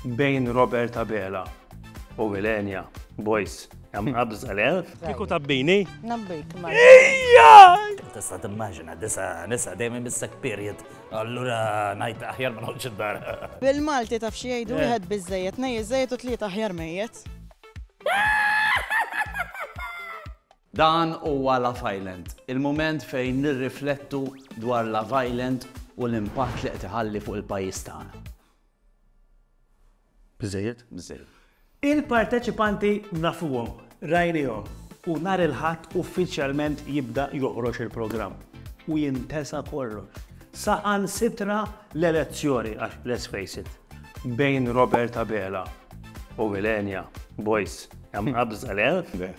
Bejn Robert Abela u Wilenia Boys. Għam għabza l-elf. Kiku tabbini? Nabbik, ma. Ija! Tista timmaġina, disa, nisa, dejjem missek period. Allura, najt aħjar ma nħolġ id-dar. Bil-Malti taf xi jgħidu eh. wieħed biżejjed, nej iżejjed u tliet aħjar mejjet. Dan huwa la Island, il-moment fejn nirriflettu dwar la Island u l-impatt li qed iħalli fuq il-pajjiż tagħna. Biżżejjed? Biżżejjed. Il-parteċipanti nafuhom, rajniehom u nhar il-Ħadd uffiċjalment jibda joħroġ il-programm u jintesa kollox, saħansitra l-elezzjoni għax let's face it, bejn Robert Abela u Millenia, boys, hemm qabża, le? Le.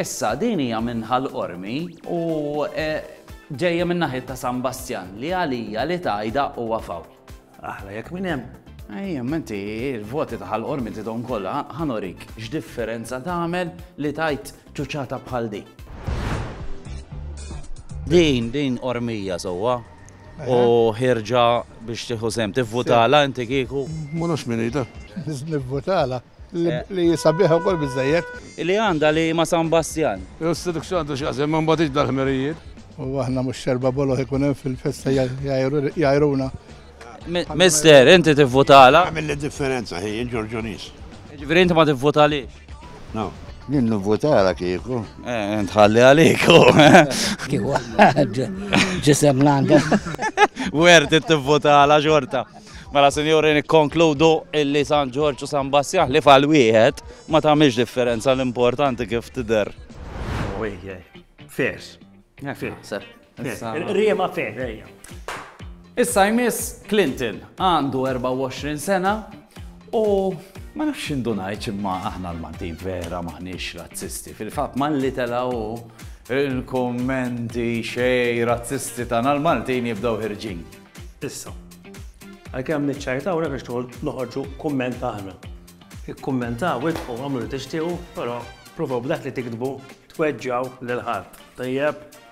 Issa, din hija minn Ħal Qormi u ġejja minn naħiet ta' San Bastjan li għalija li tgħidha huwa fawl. Aħla jekk minn hemm. Ejja, imma inti l-voti ta' Ħal Qormi tridhom kollha, ħa nurik x'differenza tagħmel li tgħid ċuċċata bħal din. Din, din Qormija sewwa. u ħirġa biex tieħu sem. Tivvutala inti kieku? Ma nafx min jida. Nivvutala li jisabiħa wkoll biżejjed. Li għandha li ma' San Bastjan. Is-sidik x'għandu x'jaqsam ma' mbagħad dal-ħmerijiet. U aħna mhux xerba bolo ikun hemm fil-festa jgħajruna. Mister, inti tivvutala? Għamilli differenza ħin Ġorġunis. Ġifieri inti ma tivvutalix? Jien nivvutala kieku. Eh, Tħalli għaliku. Kieku għad ġisem l-għanda. Wert it-tivvutala xorta. Mela sinjuri nikkonkludu illi San Ġorġ u San Bassjaħ li fal wieħed ma tagħmilx differenza l-importanti kif tidher. Fairs. Fairs. Riema fed, ejja. Issa jmiss Clinton għandu 24 sena u ma nafx indunajt imma aħna l-Maltin vera maħniex razzisti. Fil-fatt malli telaw il-kommenti xej razzisti tagħna l-Maltin jibdew ħirġin. Issa, għalkemm niċċajta u biex tħol noħorġu kumment aħna. Ikkummenta u idħu għamlu li tixtiequ, però provaw b'dak li tiktbu tweġġaw lil ħadd. Tajjeb,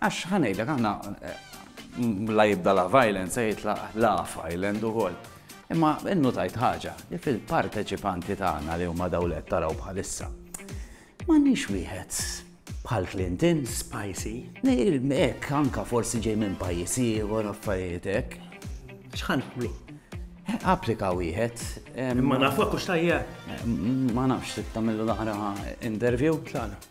Għax ħa ngħidlek aħna la jibda la violence se jitlaq la island ukoll. Imma innutajt ħaġa li fil-parteċipanti tagħna li huma daw qed taraw bħalissa. M'għandniex wieħed bħal Clinton, spicy, hekk anka forsi ġej minn pajjiż ieħor affarijiet hekk. X'ħan nagħmlu? Applika wieħed. Ma nafx hux tajjeb. Ma nafx tagħmillu l-aħra interview. Tagħna.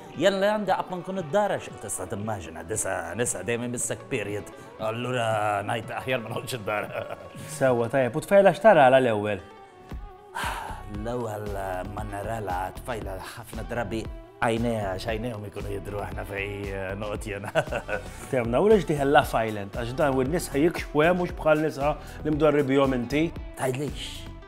Jalla janda qatt ma nkun id-dar għax tista' timmaġina disa' nisa dejjem imissek period allura ngħid aħjar ma noqgħodx id-dar. Sewwa tajjeb, u tfajla x'tarala l-ewwel? L-ewwel ma narala tfajla ħafna drabi għajnejha x'għajnejhom ikunu jidru aħna fej noqgħod jiena. Temna, u lex diħel la fajlent għax dan u n-nisa jikxfu hemm mhux bħal nisa li mdorri bihom inti. Tgħidlix.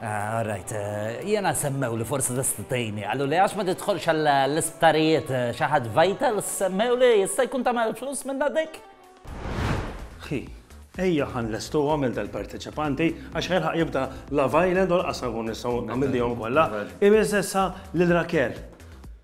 Ah, all right. Eh, jena semmew li forsi tista' tgħinni. Għallu li għax ma tidħolx għall-isptarijiet eh, xi ħadd vital, semmew li jista' jkun tagħmel flus minn dik? Hi, ejja ħan lestu għamil dal-parteċipanti għax ħelħaq jibda Love Island u l-qasam kun nistaw għamil dijom kolla. Imiz essa l-rakel.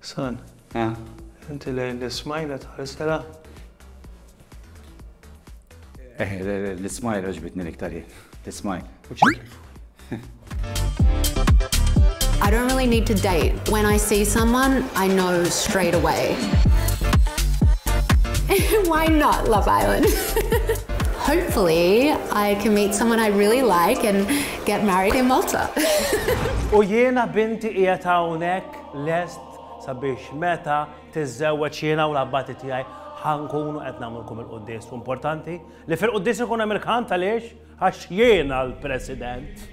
San. Eh. Inti lejn l-ismajla tħarisela? Eh, l-ismajla ġbitni l-iktar jien. L-ismajl. I don't really need to date. When I see someone, I know straight away. Why not Love Island? Hopefully, I can meet someone I really like and Get married in Malta. U jiena binti qiegħed hawnhekk lest sabiex meta tiżżewweġ jiena u l-abbati tiegħi ħa nkunu qed nagħmlulkom il-quddies. U importanti li fil-quddies ikun hemm il-kant għaliex għax jiena l-President.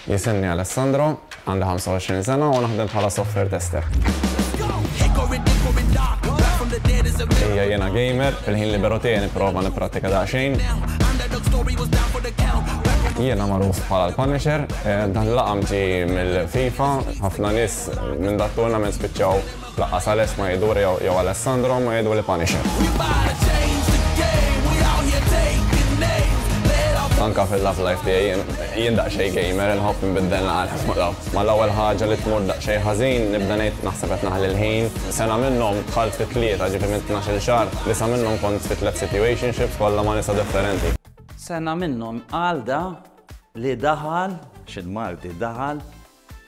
Jisimni Alessandro, Għandi 25 sena u naħdem bħala software tester. Ija jiena gamer, fil-ħin liberu tiegħi nipprova nipprattika daqsxejn. Jiena magħruf bħala l-Punisher, dan l-laqam ġie mill-FIFA, ħafna nies minn dak tournament spiċċaw Lanqas Alex ma jidur jew Alessandro ma jidhru li Punisher. Anke fil-love life tiegħi jien daqsxejn gamer, inħobb inbiddel naqra mal-ewwel ħaġa li tmur daqsxejn ħażin, nibda ngħid naħseb qed naħli l-ħin. Sena minnhom dħalt fi tlieta, ġifieri minn tnax-il xahar, disa' minnhom kont fi tliet situationships kollha ma' nisa differenti. Sena minnhom Alda li daħal, xi l-Malti, daħal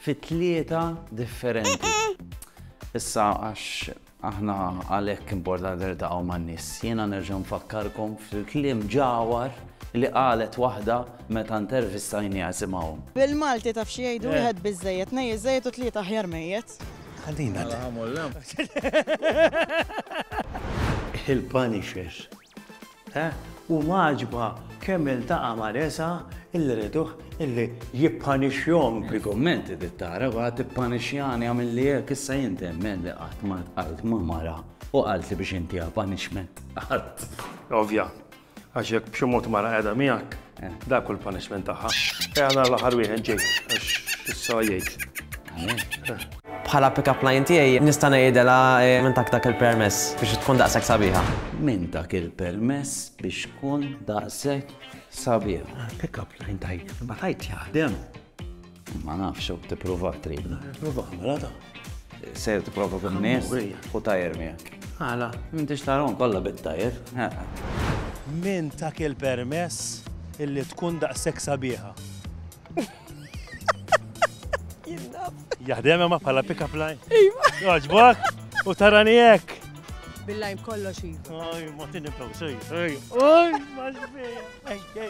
Fi tlieta differenti. Issa għax aħna għalhekk importanti nirtaqgħu man-nies. Jiena nerġa' nfakkarkom fil-kliem ġawar li qalet waħda meta intervistajniha simgħu. Bil-Malti taf xi jgħidu eh. wieħed biżżejjed, nej iżejjed u tlieta aħjar mejjet. Għalina. Il-Punisher U m'għaġbha kemm iltaqa' ma' resa' illi riduh illi jippanixxihom. Il-kummenti li tara wara tippanixxjani għamilli hekk issa jien temmen li qatt ma ltqajt ma' mara u qaltli biex intiha punishment. Qatt. Ovvja. Għax jekk b'xi mod mara qiegħda miegħek. Dak kull punishment tagħha. Ejja nhar l-aħħar wieħed ġej għax issa jgħid. Bħala pick-up line tiegħi nista' ngħidilha eh, minn tak dak il-permess biex tkun daqshekk sabiħa. Minn dak il-permess biex tkun daqshekk sabiħa. Pick-up line tajt, ma tajt jaħdem. Ma nafx, u t-prova trid. Prova, mela ta. Sejr t-prova kun nies u tajer miegħek. Għala, minn tix tarom kolla bit-tajer. Min ta' kil permess illi tkun daqsek sabiħa? Jahdem ma pala pick-up line. Iva. Għagħbak, u tarani jek. Billajm kollox iva. Oj, ma tinibtaw sej. Oj, oj, ma ġbija.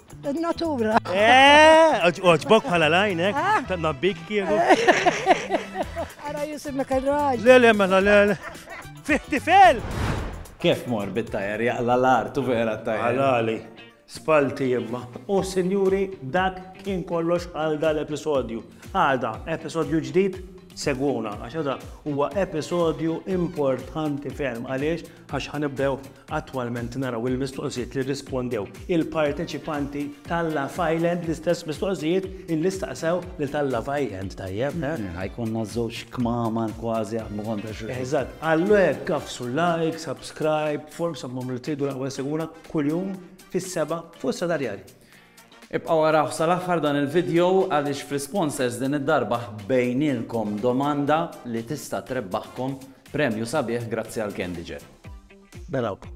Natura. Eh, oġbok bħala lajnek, eh? ta' nabbik kienu. Għara jisimek għal-raġ. Le, le, mela, le, le. Fihti fel! Kif mor bit-tajer jaqla l-art u vera t-tajer? Għalali, spalti jemma. U sinjuri, dak kien kollox għal dal-episodju. Għada, episodju ġdid, segwuna, għax għada huwa episodju importanti ferm għaliex għax ħa nibdew attwalment naraw il-mistoqsijiet li rrispondew il-parteċipanti tal-Love Island l-istess mistoqsijiet illi staqsew lil tal-Love Island tajjeb. Ħajkonna eh? żewġ kmamar kważi għamlu kontra xi. Eżatt, għallu hekk kafsu like, subscribe, form sammum li tridu l-ewwel seguna kuljum fis-seba' fuq sadarjali. Ibqgħu araw sal-aħħar dan il-vidjo għaliex fl-isponsors din id-darba ħbejnielkom domanda li tista' trebbaħkom premju sabiħ grazzi għal Candyjet. Narawkom.